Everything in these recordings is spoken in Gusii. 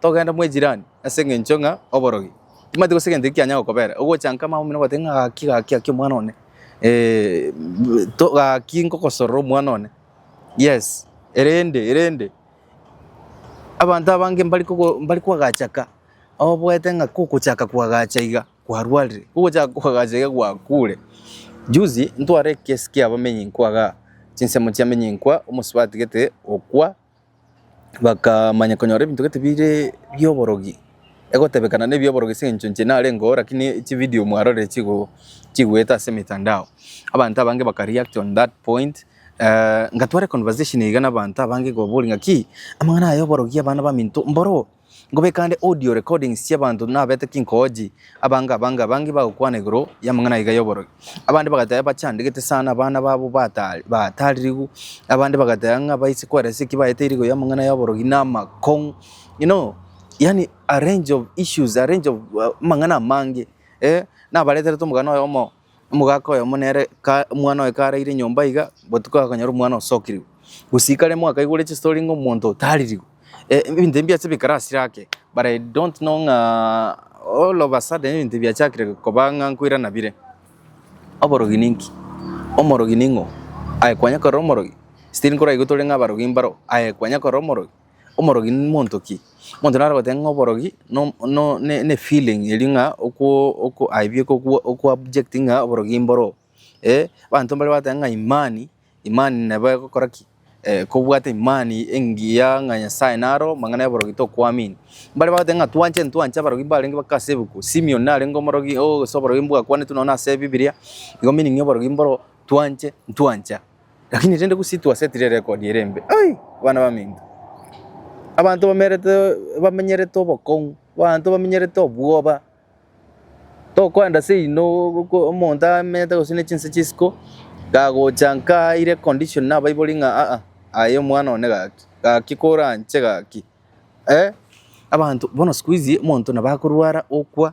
togenda mwa ejirani ase eng'encho ng'a oborogi. Timanyeti gose egento eki kianya gokobera, ogocha nka mambia omino ogoteba ng'a gaki gaki gaki omwana one eh, bu- to- gaki nkogosorora omwana one. Yes, erende erende, abanto abange mbari kogo mbari koagacha ka, oboete ng'a kogochaka koagacha iga kwarwarire, kogochaka koagacha iga gwakure. Juzi ntware ekesi kia abamenyinkwa igaa, chinsemo chiamenyinkwa, omosubati gete okwa. bakamanya konyora ebinto gete bire bi'oborogi, egotebekana nebi'oborogi ase eng'encho inche narenge oo lakini chividio mwarorire chigo chigoeta ase emetandao, abanto abange baka react on that point ngatwara econversation iga na abanto abange kobaboria ng'aki, amang'ana aya y'oborogi abana baminto mboro oo, Nkobeka ande audio recordings chi'abanto nabete kinkoji, abange abange abange bagokwana igoro y'amang'ana aiga y'oborogi. Abande bagateba bachandegete sana abana babo batari bataririgu, abande bagateba ng'a baise kweresa eki baete irigo y'amang'ana y'oborogi na amakong'u. You know, yaani a range of issues, a range of uh, amang'ana amange, eh, nabareterete omogano oyomo Omogaka oyomo nere ka omwana oye karaire nyomba iga, botuko akanyora omwana osokirigwe. Gusika rimo akaigure chistory ng'a omonto oyo taririgwe. E- ebinto ebi mbiase bikare asire ake, but I don't know ng'a all of a sudden ebinto ebi biachakire koba ng'a nkoirana bire. Oborogi ninki? Omorogi ning'o? Aye kwanya korora omorogi? Still nkoraigu tore ng'a abarogi mbaro, aye kwanya korora omorogi? Omorogi nimonto ki? Omonto naro ogoteba ng'a oborogi no no ne feeling eria ng'a okwo oko aye bieka okwo okwo object ng'a oborogi mboro oo. Eh abanto mbare bagoteeba ng'a imani, imani nabo egokora ki? kobwata imani engiya ng'a Nyasaye naro amang'ana y'oborogi tokoamini. Mbare bagoteba ng'a twanche ntwanche abarogi mbarenge bake ase ebuku, Simion narenge omorogi oo ase oborogi mbwakwanetwe nonya ase ebibiria, igo meaning y'oborogi mboro oo, twanche ntwancha. Lakini rende gose twasetire erekodi ere embe, ai, abana baminto. Abanto bamerete bamenyerete obokong'u, abanto bamenyerete obwoba, tokoenda ase inwe goko- omonto amenyete gose ne chinse chisiko, kagocha nka aire condition na abaibori ng'a aa, aye omwana one gaki, gaki kore anche gaki, eh, abanto bono sikuizi omonto nabo akorwara okwa.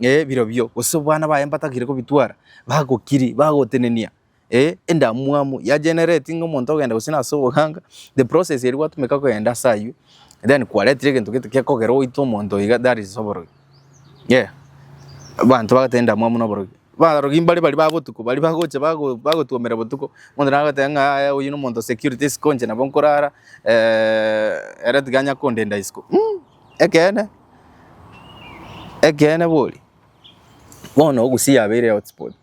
ee, birobio, gose abana baye mbatagire kobitwara, bagokiri, bagotenenia, ee, endamwamu ya generate ng'a omonto ogenda gose nase oboganga, the process eria gwatumeka kogenda ase aywo, then kwaretire egento gete gekogera oite omonto iga that is oborogi, yeah. Abanto bagoteba endamwamu na oborogi, abarogi mbare baria ba botuko baria bagocha bago bagotwomera botuko, omonto naye agoteba ng'a yaya oyio na omonto o security isiko inche nabo nkorara ere tiga anya kondenda isiko mmmh. Ekeene, ekeene bori, bono Gusii yabeire hotspot,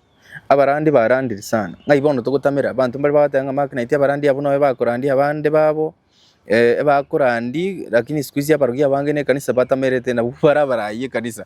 abarandi barandire sana, ng'ai bono togotamera, abanto mbare bagoteeba ng'a make naintwe abarandi abwo noe bakorandia abande babo, ebakorandi, rakini sikuizi abarokia abange na ekanisa batamerete nabwo mbare abarai ekanisa.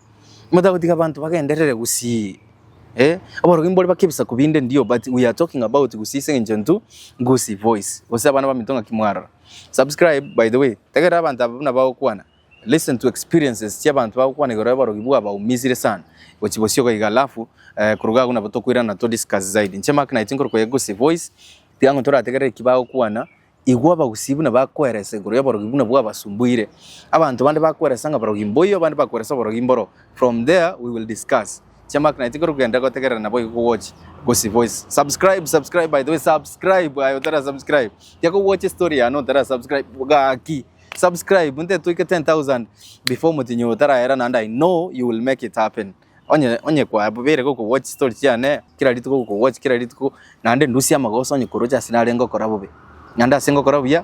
Motagotiga abanto bagenderere gusii eh aborogi mbore bake ebisaku binde ndio but we are talking about gusii ase eng'encho intwe Gusii voice gose abana baminto ng'aki mwarora. Subscribe by the way tegerera abanto aba buna bagokwana listen to experiences chia abanto bagokwana igoro y'oborogi bwabaumisire sana gochi bosio iga alafu eh koruga agwo nabo tokoirana to discuss zaidi. Inche Mark naye tinkorukoyia Gusii voice tiga ng'o torategerere eki bagokwana Igwa abagusii buna bakweresa igoro y'oborogi buna bwabasumbuire. Abanto bande bakweresa ng'a barogi mboyo, abande bakweresa oborogi mboro. From there we will discuss. Chiamaka naye tikori kogenda gotegerera nabo igo kogochi gosibwa ase. Subscribe subscribe by the way subscribe aye otara subscribe. Tiga kogocha estory yane otara subscribe gaki. Subscribe nte toike 10,000 before omotinyi oyo otaraera naende I know you will make it happen. Onye onye kwabeire gokogwachia chitori chiane kera rituko gokogwachia kera rituko, naende ndusie amagoso onye koroche ase nare ngokora bobe. Naende ase ngokora buya,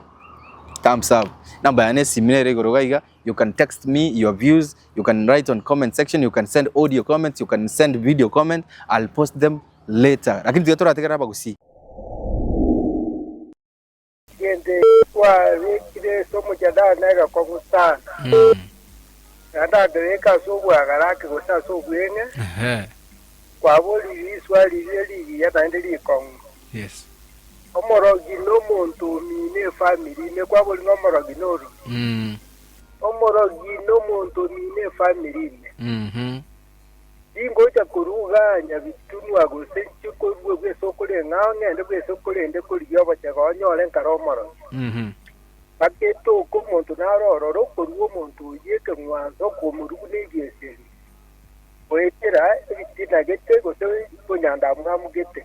thumbs up. Number yane ya esimi nere igoro iga iga, you can text me your views, you can write on comment section, you can send audio comments, you can send video comment, I'll post them later. Lakini tiga torategerere abagusii. Egento ekio twabekire ase omochandano negekwa gosana, naende akereka ase obwagaraki gose ase obweng'e, Ehe. kwaborire riswa riria rigiya naende rikong'u. Yes. Omorogi nomonto omine efamiri ime, kwaborire ng'a omorogi norumi. Mm. Omorogi nomonto omine efamiri ime. Mhm. Tingocha koruga nyabitunwa gose inche korua bw'ense okore ng'a ng'ende bw'ense okorende korigia obochega onyore nkare omoroso. Bagetoka omonto naro ororo okorua omonto oyio ekeng'wanso okomorugu nebieseri, goetera ebitina gete gose bonyandamwamu gete.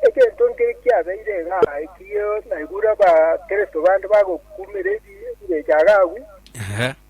Egento nkere kiabeire iga ekio naigure Abakristo bande bagokumera ebi- ebirecha agaagu.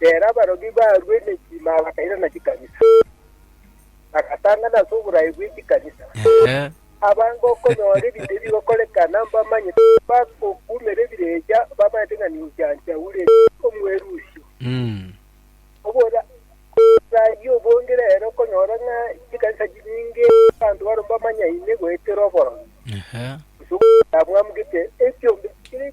Reero abaroki barua emechima bakairana chikanisa, bagatang'ana ase oboraai bwe chikanisa. Ehe. Abange okonyora ebinto ebi bigokorekana mbamanyete, bagokumera ebirecha, bamanyete ng'a ninche Antiaule, omwerusia. Mm. Obora- raai obonge reero okonyora ng'a chikanisa chinyinge abanto barwo mbamanyaine goetera oboromi, Ehe. gose ogoita bwamugete ekiombe kire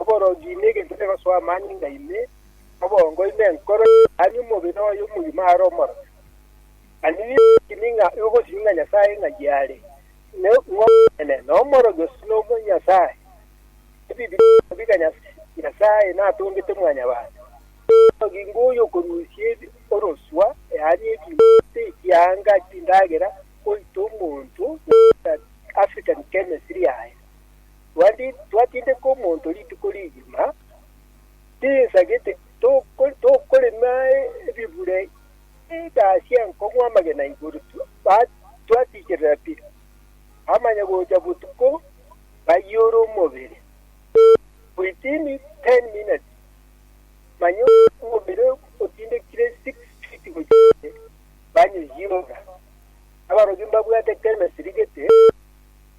Oborogi ime egento kegosoa amani nga ime, obongo ime enkoro yaani omobere oye omogima are omorobe. Mani nigo ng'a ogosiria ng'a Nyasae ng'ai are, ng'omonene, na omorogi ose nomonyasae. Ebibilia ebirobi ng'a Nyasae natongete mwanyabanto. Omorogi ngoyo okorusia orosua, yaani ebibe, ase ekiaanga chindagera goita omonto, African Chemistry yaye. Twati- twatindeka omonto rituko rigima, tinsa gete, toko- tokorema ebibure egasi enkong'u amagena igoro, tu- ba- twatikerera pi, amanya gocha botuko bayiore omobere. Within 10 minutes, manya omobere otindekire six feet gochia inse, banyiyora. Abaroki mbabwate chemistry gete.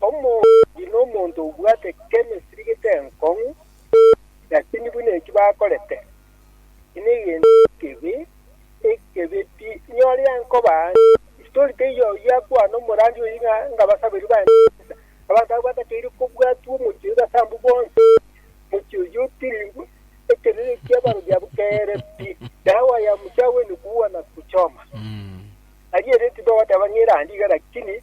Omoruoti nomonto obwate chemistry gete enkong'u, lakini buna eki bakorete, eki negento ekebe, ekebe pi. Inyore yankoba ande, isitori teiyo oyio akwane omorandi oyio ng'a ngabasaberi bande chisa. Abanto abwo batakeire kobwatwa omochie oyio ase abwo bonsi, omochie oyio otiri ekerere kia abarori abwo kere pi. Dawa ya mchawi ni kuua na kuchoma. Aria ere tibagoteeba ng'a erande iga lakini.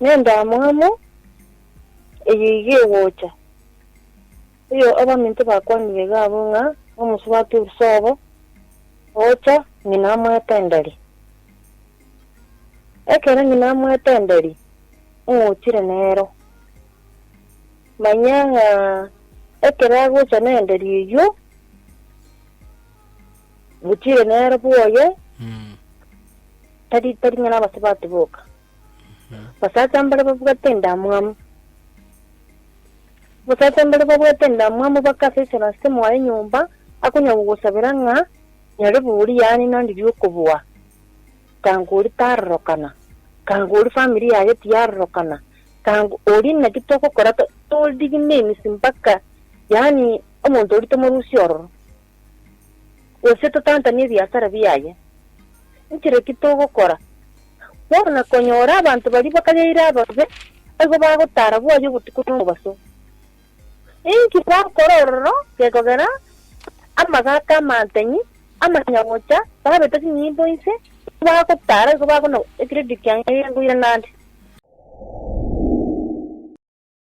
Nendamwamu eye iga egocha, erio abaminto bakwanire iga abwo ng'a nomosubati oruse obo, ogocha ng'ina amoete endari. Ekero ng'ina amoete endari, ng'ochire nero. Manya ng'a ekero agocha nendari eyio. Butire nere bwoye, Mm. tari tari ng'a nabase batiboka. Basacha mbare babwate endamwamu. Basacha mbare babwate endamwamu bakasesera ase mwaye nyomba, akonya gogosabera ng'a nyare bori yaani nandi riokobua. Tango ori tarorokana, tango ori family yaye tiyarorokana, tango ori naki togokora to- told him names mpaka yaani Omonto oria tomorusia ororo, gose totantanie ebiasara biaye. Nchire ki togokora? Bono na konyora abanto baria bakayaire ababe baigo bagotara bwaye obotuko na omobaso. Inki bakore ororo gekogera amagaaka amantenyi amanya gocha babeta chinyimbo inse tibagotara igo bakona ekiredio kiange ngoirana ande.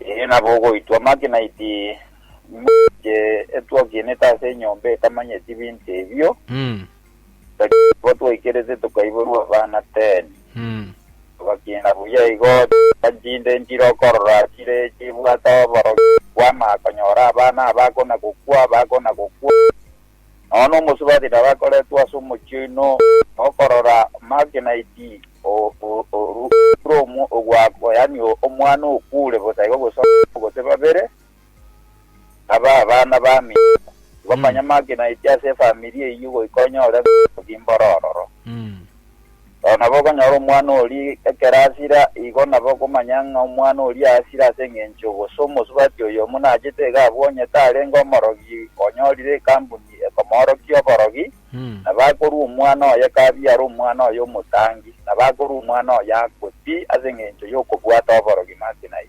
Ee, nabo ogoitwa amaki naiti moche etwakienete ase enyomba etamanyeti binto ebio, Mm. Tokaba twaikerete tokaiborwa abana ten, Mm. togakiina buya igo chifwa chinde nchire okorora chire chibwate oborokia kw'amaakonyora abana abakona gokwa, abakona gokwa. nonya nomosubati narakoretwe ase omochie oino, na okorora Marginaiti orure ogwakwa, yaani omwana okure bosa igo gose abana gose babere, abe abana bamino. Igo manya Marginaiti ase efamiri eyio goika onyore obotugi mboro ororo. Ao nabo okonyora omwana oria ekero asira, igo nabo okomanya ng'a omwana oria asire ase engencho gose omosubati oyomo nachete iga abwo onye tarenge omorogi onyorire ekambuni ekomoorokia oborogi, nabo akorua omwana oye kabiare omwana oye omotangi, nabo akorua omwana oye akwe pi ase engencho y'okobwata oborogi make naye.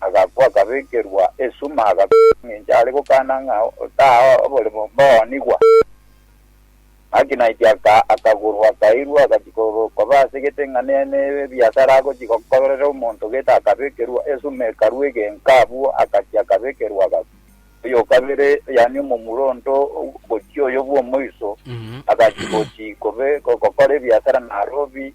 agakwa, akabekerwa esuma, agakorwa engencho are gokana ng'a otaha oborimo mboonigwa. Gaki naintwe aka akagorwa, akairwa, agachia korwa koba ase gete ng'a ne ne ebiasara agochia gokorera omonto gete akabekerwa esuma ekarwa egenka abwo agachia akabekerwa agakwa. Oyokabere yaani omomura onto gochia oyo bw'omoiso, agachia gochia kobe gokora ebiasara na arobi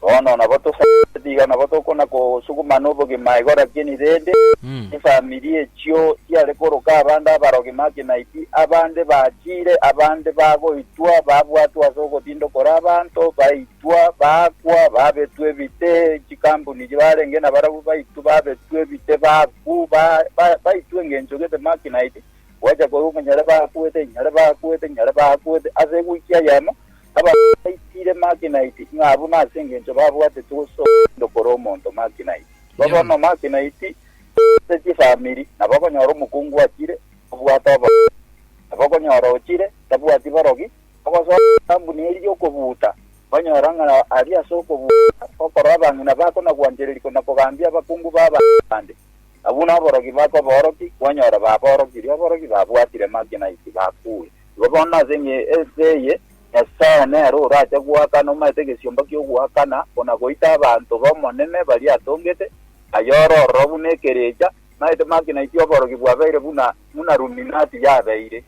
Bono nabo tosabetie tiga nabo tokona kosuguma nobogima igoro lakini rende chifamiri echio chiare koroka abande abarogi make naiti abande bachire abande bagoitwa babwatwa ase ogotinda okore abanto baitwa bakwa babetwa ebite chikambuni chibarenge nabarabwo baitwa babetwa ebite baku ba ba baitwa engencho gete make naiti gwacha koigwa ng'a nyare bakwete nyare bakwete nyare bakwete ase ewiki eyemo Abanto baitiire Makinaiti ng'a buna ase engencho babwateti gosoa omotindo korwa omonto Makinaiti. Igo bono Makinaiti ase chifamiri nabakonyora omokungu achire kobwata oboronge, nabakonyora ochire tabwati borogi, bagosoa etambuni eri y'okobuuta, banyora ng'a aria ase okobuuta okorora abang'ina bakonagwanchereria konakogambia abakungu b'abanto bande. Na buna aborogi bakobaorokia, kwanyora baborokirie, aborogi babwatire Makinaiti bakuure. Igo bono ase engencho eye Nyasae nere orache goakana omanyete egesiomba ki'ogoakana, ona-goita abanto b'Omonene baria atongete, aye ore ororo buna ekerecha, omanyete makinaiti oborogi bwabeire buna buna ruminati yabeire.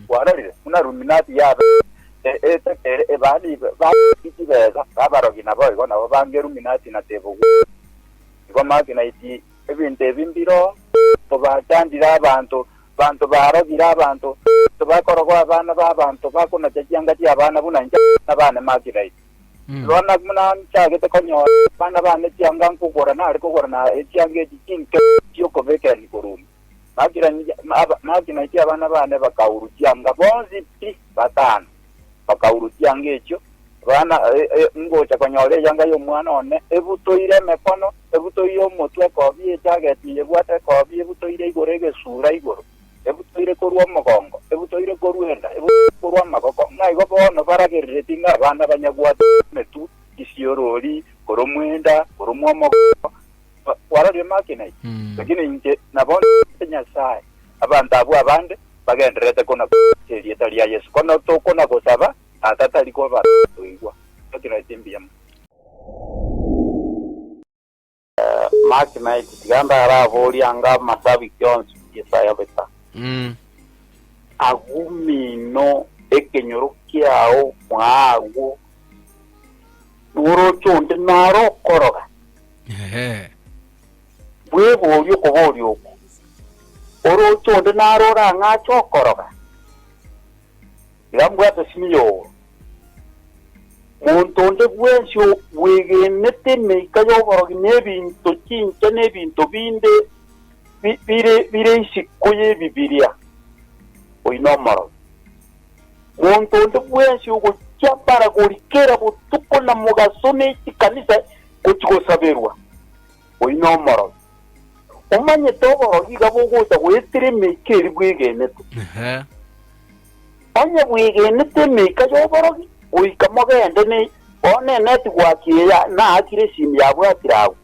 Kwarorire? Buna ruminati yabeire. E, etetere, ebani ba, babeeti chibesa, babarogi naboigo, nabo bange ruminati na tebogwere. Igo makinaiti ebinto ebi mbiroo, obachandire abanto, Abanto baarogire abanto, tibakorogoa abana b'abanto, bakonacha chianga chi'abana buna inche abana baane Magidai. Rora, buna nchagete konyora abana baane chianga nkogora, nare kogora na echianga echi chinke chi'okobeka erio korwa ime. Magidai abana baane bakaurwa chianga bonsi pi batano. bakaurusia anga echio, bana ngocha konyora eyanga y'omwana one ebutoire emekono, ebutoire omotwe ekobie echageti eye ebwate ekobie ebutoire igoro egesura igoro, ebutoire korwa omogongo, ebutoire korwa enda, ebutoire korwa amagoko, ng'a igo bono baragereretie ng'a abana banyagwate emetwe, isiorori, koromwa enda, koromwa omogongo, ba- kwararia emakina eye, Mm. lakini inche nabonete Nyasae abanto abwo abande bagendererete konagocha erieta ria Yeso. Kono tokonagosaba Tata tari koba toigwa, totigaete mbuya mono. Makina eke tiga ndaraborie anga amasabiki onsi Yesaya beta. Mm. agumino ekenyoro kiao mwaagwo noroche onde naro okoroga Ee. Bweborie okoboria okwo, Orooche onde naro orang'ache okoroga? Tiga mbwate simia obo. Monto onde bwensi obwegenete emeika y'oborogi na ebinto chincha na ebinto binde bire bire isiko y'Ebibilia, oyio nomorogi. Monto onde bwensi ogochia baragori kera botuko na mogaso ne chikanisa Gochigosaberwa oyio nomorogi, omanyete oborogi iga bogocha goetera emeika eri bwegenete. Onye bwegenete emeika y'oborogi, goika mogende ne bono eneti gwaki eya naakire esimi yabwatire agwo.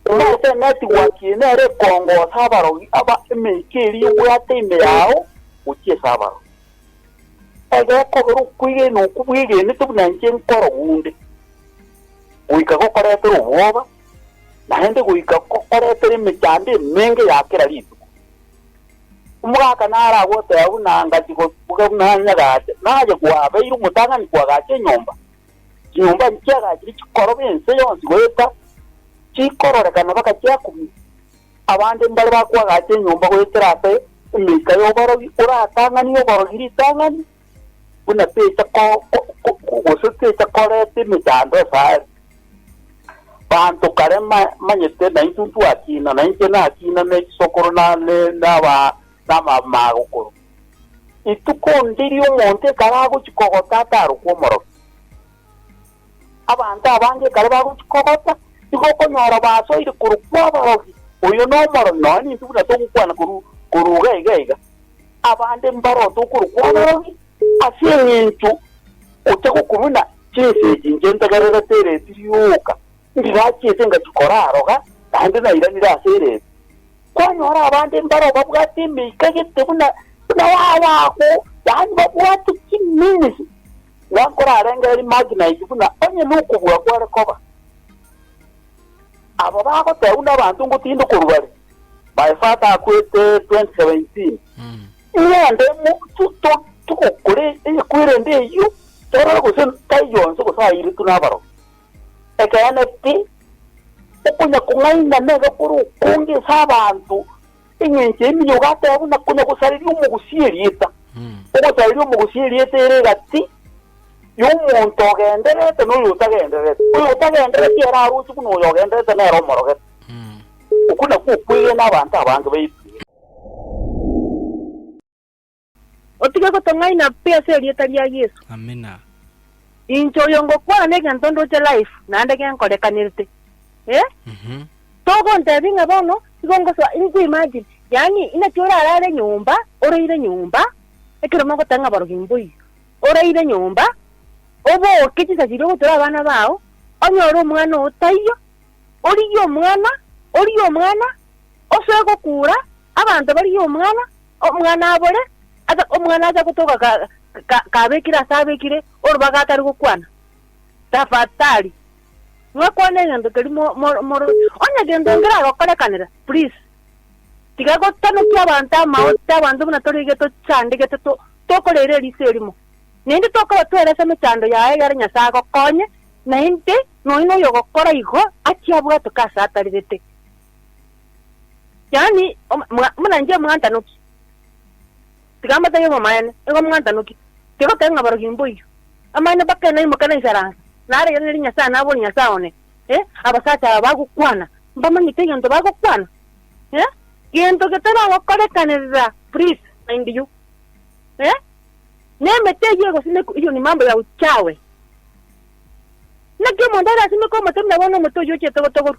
Omanyete eneti gwaki eye nere ekongosa abarogi aba emeika eri ebwate ime yao gochia ase abarogi. Aye okobera okwegena okwo bwegenete buna inche nkorogu onde, goika gokoretera obwoba, naende goika gokoretera emechando emenge ya kera rituko. Omogaka naro agoteba buna angachi gotuga buna anyagache, naye gwabeire omotang'ani koagacha enyomba, chinyomba nchiagachire chikoroba ense yonsi goeta chikororekana baka chiakumia. Abande mbare bakoagacha enyomba goetera ase emeika y'oborogi, oratang'anie oborogi ritang'ani, buna techa ko, ko, ko, gose techa koreta emechando asare. Banto kare ma, manyete naintwe ntwakina, na inche nakina ne chisokoro na, ne, naba, namamagokoro. Rituko ndiria omonto ekaragochi kogota atarokwa omorokia. Abanto abange ekero bagochia kogota, nigo okonyora basoire korwa kw'abarogi, oyo nomoro, nonya nintwe buna togokwana korwa korwa iga iga iga. Abande mbarotwe korwa kw'abarogi ase engencho gocha gokorwa na chinsa echi inche ntegererete ereeti rioka, ndirachiete ngachia koraroga, naende nairanire ase ereeti. Kwanyora abande mbaro babwate emeika gete buna buna y'abago, yaani babwate chiminis. Ng'a korarengererie mache nainki buna onye nokobua kware koba. Aba bagoteebwa nabanto ngotinde korwa bare, My father akwete 2017 ng'ende mo tu- tu- togokore ekwerende eyio torore gose taiyo onsi gose airetwe nabaroki. Ekeene pi, okonya kong'aina nebe kore okonge ase abanto Engencho eria nigo ogakora buna konya gosareria omogusia erieta, ogosareria omogusia erieta ere egati y'omonto ogendererete na oyo otagendererete. Oyo otagendererete ere aroche buna oyo ogendererete nere omorogete. Okwo nakwo okwegena abanto abange baitwe. Otige gotong'aina pi ase erieta ria Yesu. Amina. Inche oyo ngokwana negento ndoche live naende genkorekanerete eh Mhm. Togontebia ng'a bono igo ngosoa in- you imagine yaani inaki orarare nyomba oraire nyomba ekero mogoteba ng'a barogi mboiyo oraire nyomba oboke chinsa chiria ogochora abana bao onyore omwana oo taiyo origie omwana origie omwana osoe gokura abanto barigie omwana Omwana abore, ase omwana acha gotoka kabekire ase abekire orobaga atari gokwana, Tafatali, mwakwane egento keria mororire. Onye gento nkeragokorekanera, please, tiga gotanokia abanto amaote, abanto buna tore iga tochandegete tokorera eriso erimo. Naende tokorwa twerase emechando yaye egere Nyasae agokonye, naende nonya noyogokora igo achia abwatoke ase atarerete. Yaani, om, mga, buna inche omwantanoki, tiga mbatebie bomaene, nigo omwantanoki, tigokee ng'a abarogi mboiyo, amaene mpaka naimoke na isaranse, narege ng'a eri Nyasae nabori Nyasae one, eh, abasacha aba bagokwana, mbamanyete egento bagokwana, eh, gento getaragokorekanerera, please mind you, eh, na emete eyio egosimekwa eyio ni mambo ya uchawi, naki omonto arasimeke omote buna bono omote oyio ochete gotogoru.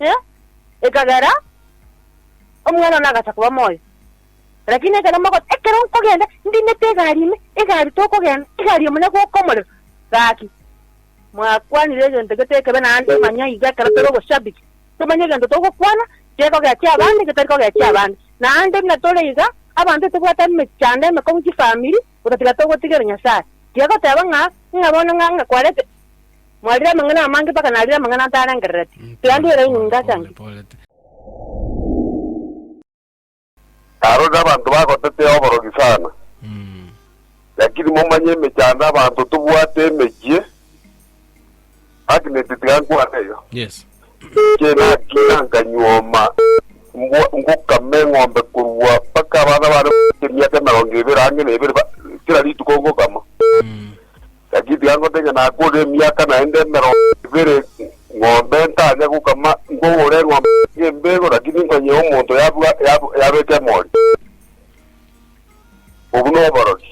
e, ekagera omwana one agacha koba moyo. Lakini ekero mogoteba, Ekero nkogenda ndinete egari ime, egari tokogenda, egari ime nonya gwoka omorero, gaki, mwakwanire egento gete ekebe naende manya iga ekero tore oboshabiki, tomanye egento togokwana gekogechia abande, getari kogechia abande. Naende buna tore iga, abanto tobwate emechando emekong'u chifamiri, Gotatiga togotigera Nyasae. Tiga goteba ng'a, Ng'a bono ng'a ng'a kwarete. Mwarire amang'ana amange mpaka narire amang'ana ntarengerereti. Tiga ndwere inwe ngase ang'e. Narorire abanto bagotetea oborogi sana, lakini momanye emechando abanto tobwate emechie. Agnes tiga nkwane eyo. Yes. Inche nagenda nkanyuoma mbwa ngokama eng'ombe korwa mpaka abana bane bagochia emiaka emerongo ebere ang'e na ebere ba- kera rituko ngokama. Lakini tiga ngote ng'a nakore emiaka naende emerongo ebere ng'ombe ntanya gokama nkogora eng'ombe tiga embego lakini nkonye omonto yabwa yab- yabeka emori. Obwo noborori.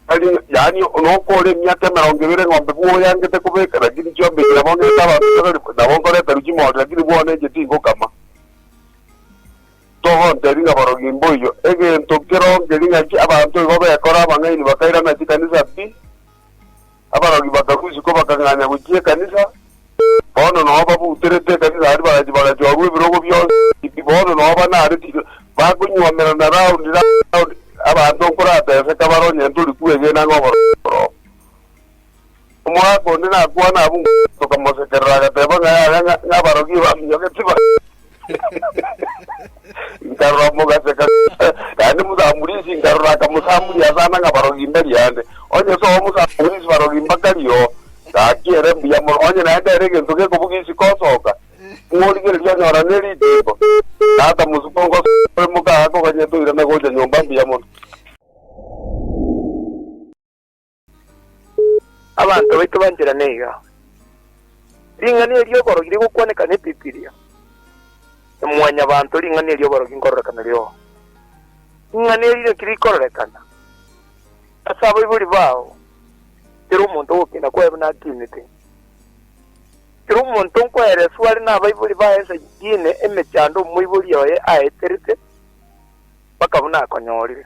Tari yaani noka ore emiaka emerongo ebere ng'ombe bwo oyangete kobeka lakini chiombekire nabo ng'ete abanto togari nabo nkoreta ruchi mori lakini bwona enche tingokama. Togontebia ng'a borogi mboiyo egento keronkeri ng'aki abanto igo bekora abang'aini bakairana chikanisa pi. abarogi bakagusikwa bakang'anya gochia ekanisa, bono nao babuterete ekanisa aria bagacha bagachorwa ebirogo bionsi, bono nao banaareti bakonywomerana round round, abanto nkorateseka bare onye ntori kwegena ng'a obororo obo. Omogaka onde nakwana abwo tokamosekerera agateba ng'a yaya ng'a abarogi baminyoke tibare. Nkarora omogaseka, naende omosamburisi, nkarora akamosamburia asana ng'a barogi mbari ande. Onye soa omosamburisi barogi mbakari oo, gaki ere mbuya mono, onye naende ere egento gekobuga isiko osoka, ng'origereria onyora ne ritimbo. Tata mosuku ngosoka ore moka, akoganyete oirana gocha nyomba mbuya mono. Abanto baito banchera neiga. Ring'ana eri'oborogi rigokwaneka n'Ebibilia. E mwanyabanto, ring'ana eri'oborogi nkororekana riogo. Ring'ana eri naki rikororekana? Ase abaibori bao, teri omonto ogokina koeba nakinete. Teri omonto nkoereswa are nabaibori baye ensa yine emechando omoibori oye aeterete mpaka buna akonyorire.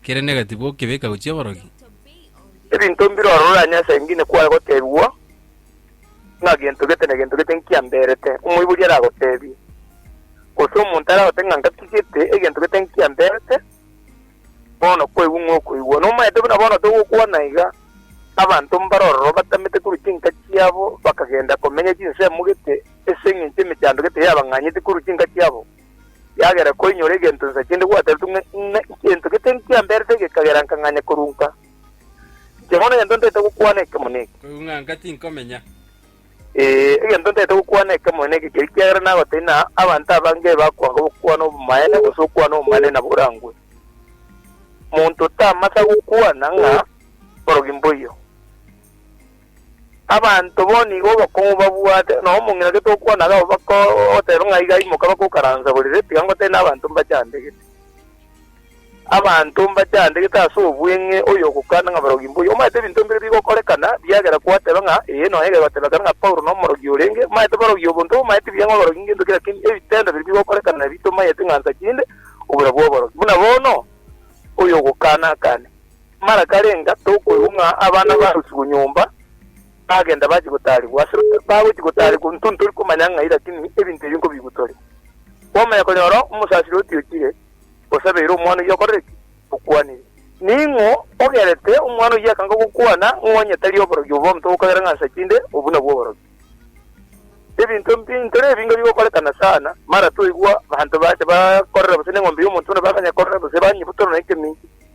Kere negatibu okebeka gochia aborogi. Ebinto mbire orororanie ase engine kwaye gotebigwa, ng'a gento gete na gento gete nkiamberete, omoibori aragotebie, gose omonto aragote ng'a ngatigete egento gete nkiamberete, bono koigwa ng'a okoigwa. Nomaete buna bono togokwana iga, abanto mbare ororo batamete korwa chinka chiabo bakagenda komenya chinsemo gete ase engencho emechando gete yabang'anyete korwa chinka chiabo. Kiagera koinyora egento inse kende gwateretwe ng'a ng'a egento gete nkiamberete gekagera nkang'anya korunka. Inche bono egento ntaete gokwana ekemo neke. Korung'anka tinkomenya. Ee, egento ntaete gokwana ekemo neke keria kiagera nagotebia na abanto abange bakwanga obokwana obomaene gose okwana obomaene nabo orangwe. Monto tamasa gokwana ng'a borogi mboiyo. Abanto bo nigo obokong'u babwate, na omong'ina gete okwana iga abwo bakoteeba ng'a iga imoka bakokaransaborere, tiga ngotebie nabanto mbachandegete. Abanto mbachandegete ase obweng'e oyogokwana ng'a barogi mbuya. Omanyete ebinto mbire bigokorekana riagera kwateba ng'a ee nonya ekero bateba kare ng'a Paulo nomorogi orenge, omanyete barogi obonto bamanyete buya ng'a oborogi ngento ki lakini ebitendo bire bigokorekana nabio tomanyete ng'a nsa chinde obura bw'oborogi. Buna bono oyogokana akane. Mara karenga tokoigwa ng'a abana barusigwe nyomba, bagenda bachia gotaarigwa. Ase bagochia gotaarigwa intwe ntori komanya ng'ai, lakini ebinto ebio nkobigwa tore. Kwamanya konyora omosasire otiochire, osabeire omwana oyio okorire ki? Okwanire. Ning'o ogerete omwana oyio akanga gokwana ng'a onye tari oborogi obo omonto okogera ng'a nsa chinde, obwo nabwo oborogi. Ebinto mbi ntore ebi nigo bigokorekana sana, mara twaigwa abanto bacha bakorera gose neng'ombe y'omonto buna bakanya korera gose banyebutana na ekeminki,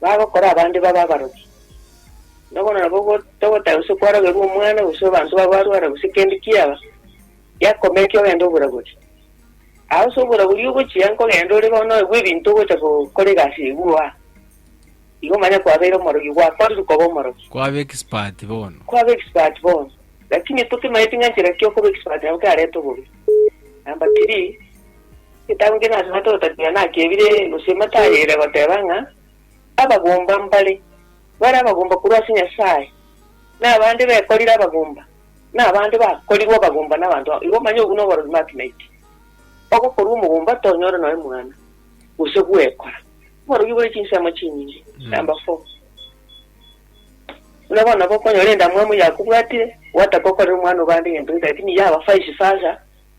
bagokora abande babe abaroki. Nobono nabo ogo- togotaka gose kwarogerwa omwana, gose abanto babo barwara, gose kende kiaba, giakomekia ogende oborabori. Aa ase oborabori ogochia nkogenda ore bono oegwe ebinto ogocha gokora egasi eywo aa, igo manya kwabeire omorogi, gwakorire koba omorogi. Kwaba expert bono. Kwaba expert bono. Lakini tokimaeti ng'a nchera ki okoba expert nabo kerarete obobe. Number three. Getabu kere ase Batotapia naki ebire gose ematayo ere goteba ng'a abagomba mbare bare abagomba korwa ase Nyasae, na abande bekorire abagomba, na abande bakorirwe abagomba nabanto aa. Igo manya obwo noborori Makimaiti. Ogokorwa omogomba tonyore noe mwana, gose gwekora. Oborogi bore chinsemo chinyinge. Number four. Buna bono nabo okonyora endamwamu yakobwatire, gwataka okorera omwana obande egento gete lakini yaba vice versa,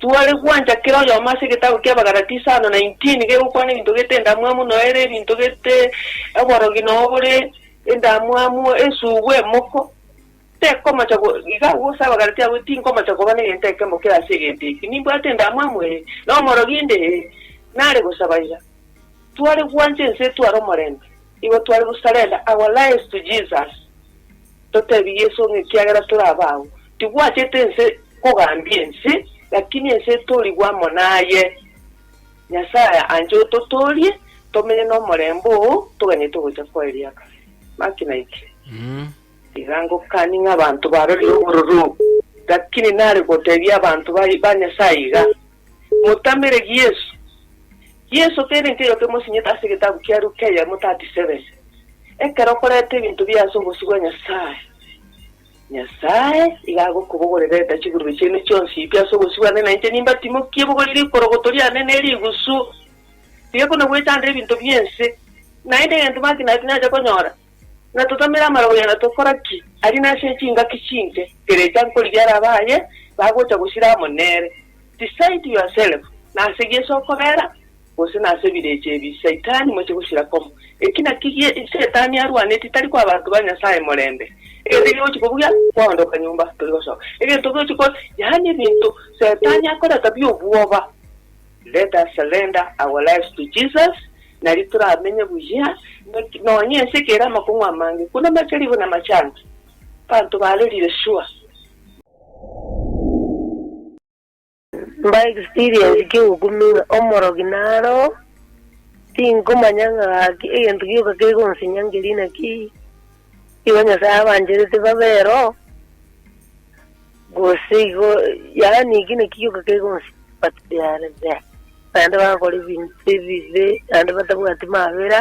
Tware gwancha kera oyomo ase egetabu ki'Abagalatia isano na intini gegokwana ebinto gete endamwamu noyo ere ebinto gete oborogi noyo bore endamwamu esugu emoko. Tekomocha go, iga agwo ase Abagalatia agwo tinkomocha koba negento ekemo kera ase egento eki. Nimbwate endamwamu? Ee. Nomorogi inde? Ee. Nare gosaba iga. Tware gwancha ense etware omorembe. Igo tware go surrender our lives to Jesus, totebie Yeso ng'a ekiagera tore abago, tibwachete ense kogambia ense, lakini ense etorigwe amo naye. Nyasaye anche ototoorie, tomenye nomorembe oo, toganyete ogocha kwaye riakare. Maki naikire. Tiga ngokani ng'a abanto barorire obororo, lakini nare gotebia abanto ba Nyasaye iga. Motamere Yesu. Yesu teri nteyo kemosinyete ase egetabu kia Luke eyemo 37. Ekero okoreta ebinto biaye ase obosio bwa Nyasae, Nyasae iga agokobogorera reta chigurube chiane chionsi pi ase obosio bwane na inche nimbatimokie bogori rikorogoto riane ne rigusu rigekuna goetanda ebinto bi'ense. Naende egento Mark Knight nacha konyora, Na totamere amarogoria na tokora ki? Aria nase chingaki chinke, kerecha nkorigia ara abaye bagocha gosira amo nere. Decide yourself, nase Yeso okobera, gose nase ebirecha ebi Saitani moche gosira komo. Eki naki gie Saitani arwanetie, tari koa abanto ba Nyasaye morembe. Egento ekiya ogochia kobugia, kwaondoka nyomba, tori gosoka. Egento ogochia ko, yaani ebinto Saitani akoreta bi'obwoba. Let us surrender our lives to Jesus, nari toramenye buya, nonya ense eke ere amakong'u amange, buna amacharibu na amachanga, abanto barerire sure. Mba experience ki ogokumenya omorogi naro? Tinkomanya ng'a gaki egento gioka kegonsinyangeria inaki? Igo Nyasae abancherete babe eroho, gose igo, yaani eki nakio gioka kegonsibatearete, naende bagakora ebinto ebibe, naende batabwati mabera,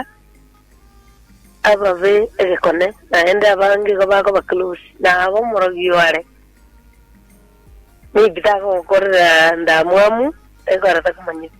ababe egekone, naende abange igo bakoba close, na abe omorogi oare. Maybe takogokorera ndamwamu, ekero takomanyeti.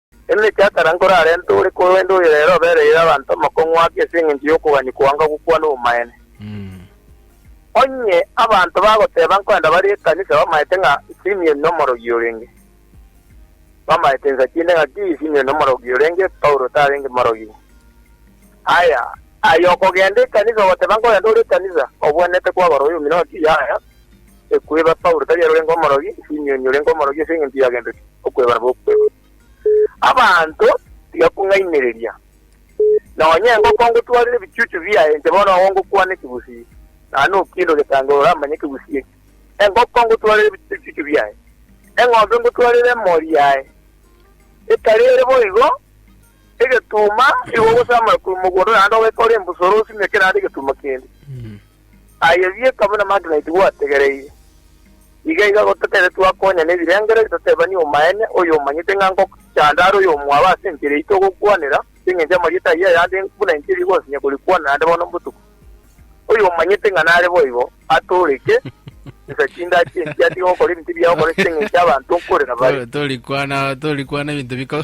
Emechie akera nkorarente ore korende oyo ere obereire abanto amakong'u ake ase engencho y'okogania koanga gokwana obomaene. Onye abanto bagoteba nkoenda bare ekanisa bamaete ng'a Simion nomorogi orenge, bamaete insa chi'nde ng'aki Simion nomorogi orenge, Paulo tarenge morogi. Aya, aya okogenda ekanisa ogoteba nkorende ore ekanisa, obwenerete kwagora oyomino ng'aki yaya. Ekweba Paulo tari ere orenge omorogi, Simioni orenge omorogi ase engencho ya gento ki? Okweba nabo okweba. Abanto, tiga kung'ainereria. Nonya engo kongotwarire ebichuchu biaye inche bono agwo ngokwana ekegusii, naende okinde ogetange oramanye ekegusii eke. Engo kongotwarire ebichuchu biaye, eng'ombe ngotwarire emori yaye. Ekare ere boigo, egetuuma igo ogosamora korwa mogondo naende ogekore embusoro osimeke naende egetuuma kende. Aye bieka buna Magnite gwategereire. Iga iga gotakeire twakonya nebirengererio toteebanie omaene, oyomanyete ng'a ngochanda are oyomwabo ase enchera eyio togokwanera, ase engencho amarieta ayio ayande buna enchera igosinya korikwanera ande bono mbotuko. Oyomanyete ng'a nare boigo, atooreke, Tesa chinda chi'enchera, tiga gokora ebinto ebiya gokora ase engencho abanto nkorera bare. Torikwana, torikwana ebinto biko.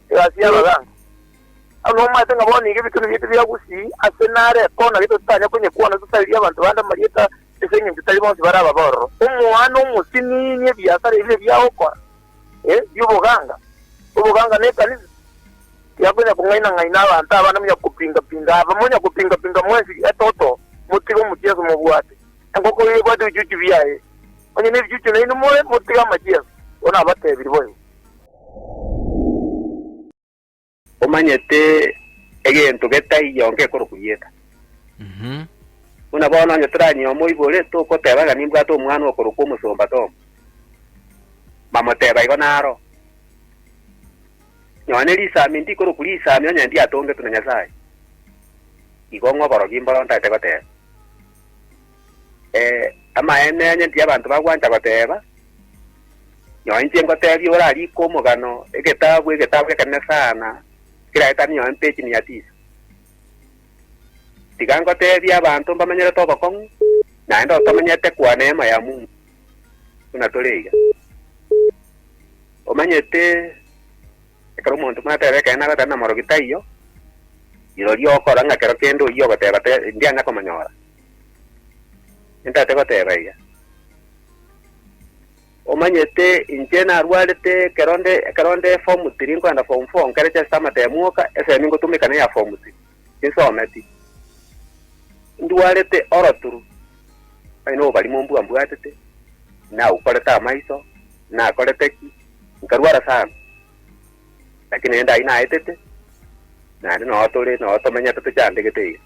Egasi y'abagaaka. Aye nomanyete ng'a bono iga ebitone biaito biagusii ase nare ekona gete totanya konyekwana tosarerie abanto bande amarieta ase engencho tari bonsi bare ababororo. Omwana omosiniini ebiasara ebi ebi agokora, ee, bi'oboganga, oboganga na ekanisa, tiakonya kong'aina-ng'aina abanto abana monya kopinga-pinga aba monya kopinga-pinga mwensi ee toto, motige omochieso mobwate enkoko iga ebwate ebichuchu biaye, onye nebichuchu nainwe more motige amachieso, bono abatebirie boigo. Omanyete egento getai gionka ekorokwa rieta. Buna bono onye toranyie omoibore, togoteba ng'a nimbwate omwana okorokwa omosomba Tom. Mbamoteba igo naro. Nonye risami ndikorokwa risami onye ndiatongetwe na Nyasae. Igo ng'a oborogi mboro ntagete goteba. Eh, amaene onye nti abanto bagwancha goteeba, nonye inche ngoteebia ore arikwe omogano egetabu egetabu ekenene sana keraetane nonye mpechi mia tisa. Tiga ngoteebie abanto mbamenyerete obokong'u, naende otomenyete kwa neema ya Mungu buna tore iga. Omanyete Ekero omonto mwateba ekeene agoteba namorogi taiyo, rirorio okora ng'a kero kende oyio ogoteba te ndiana komonyora. Entate goteba eya. Omanyete inche narwarete ekero nde ekero nde form three nkoenda form four nkarecha ase amatemo oka esemi ngotumeka neya form three. Esometi, Ndwarete oroturu, onye nobarimo mbua mbwatete, nagwukorete amaiso, nakorete ki, nkarwara sana. Lakini rende ai naetete, naende noo tore, noo tomenyete tochandegete iga.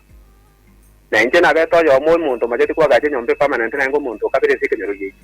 Na inche nabete oyomo omonto omacheti koagacha enyomba epermanent naende omonto okabera ense ekenyoro giaito.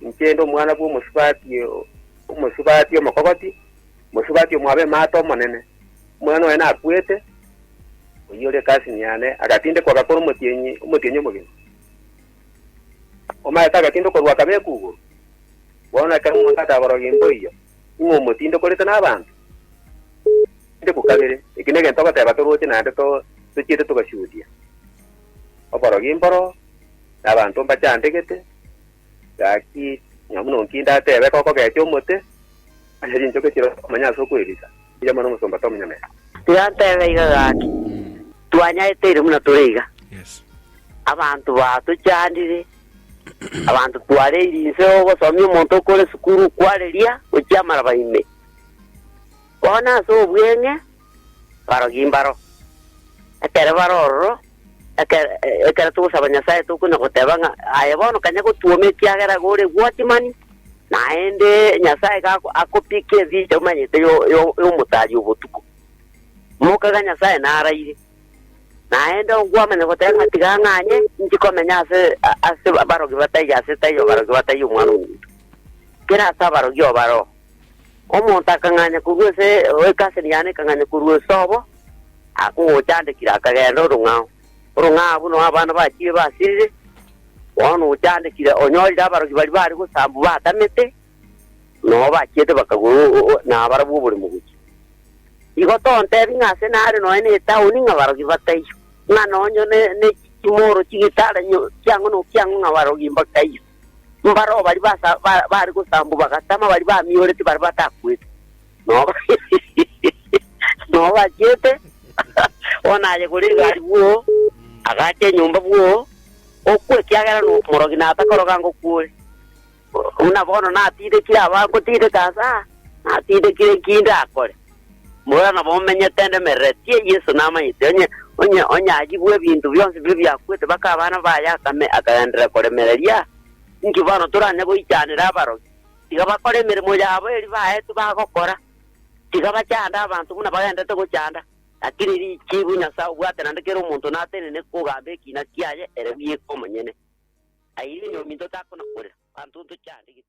Inche inde omwana bw'omosubati omosubati omokogoti, omosubati omwabe emate omonene. Omwana oye nakwete, oyio ore cousin yane, agatindekwa agakora omotienyi omotienyi omogima. Omanyete agatindokorwa akabekwa igoro? Bono ekero omonto akagorogia mboiyo, ing'o omotindokorete n'abanto? Tindekwa kabere. Eki negento ogoteba toroche naende to tochiete togashuhudia. Oborogi mboro, na abanto mbachandegete, gaki nonya buna onki ndatebe gokogecha omote, onye chinchoke chire komanya ase okwebisa, mbuya mono omosomba Tom Nyamesa. Tiratebe iga gaki, twanyaeteire buna tore iga. Abanto batochandire, abanto twareire inse ogosomia omonto okore sukuru okwareria gochia amaraba ime. Bono ase obweng'e, barogi mbaro. Ekero bare ororo, ekero, ekero togosaba Nyasae tokonya goteba ng'a, Aye bono kanya gotuoma ekiagera iga ore gwochimani, naende Nyasae iga ako- akopike ensinche omanyete yo- yo- y'omotari obotuko. Moka iga Nyasae naraire. Naende onkwamanya goteba ng'a tiga ng'anye inche komenya ase a- ase barogi bataiyo ase taiyo barogi bataiyo Omwana-o-Omonto. Kera ase abarogi oo bare oo. Omonto akang'anya korwa ase ekaseni yane ekang'anya korwa esobo, akogochandekire akagenda orong'ao. Orong'ao abwo nao abana bachire basirire, bono ochandekire onyorire abarogi baria bare gosambwa batamete, nao bachiete bakagwa o- o- o- nabarabwo oboremo gochia. Igo tontebi ng'a ase nare nonya ne etaoni ng'a barogi bataiyo, ng'a nonye ne- ne chimoro chigitara nyo- chiang'o nokiang'o ng'a barogi mbakaiyo. Mbaro baria basa- ba- bare gosambwa bagatama, baria bamiorete baria batakwete, nonya nonya bachiete, bono aye kore egari bwoo, agacha enyomba bwoo, okwa ekiagera nomorogi na atakoroga ngokwore. Buna bono natidekire abagotideka ase aa, natidekire ki ndakore? Bora nabo omenyete ende emerero, tiee Yeso namanyete, onye onye onyagigwe ebinto bionsi biria biakwete baka abana baye akame akagenderera koremereria. Inki bono toranye goichanera abarogi? Tiga bakore emeremo yabo eri baetwe bagokora. Tiga bachande abanto buna bagenderete gochanda, lakini richibu Nyasae obwate naende kera omonto natenene kogamba ekina kiaye ere bweka omonyene. Aye onye ominto takona korera, abanto ntochande gete.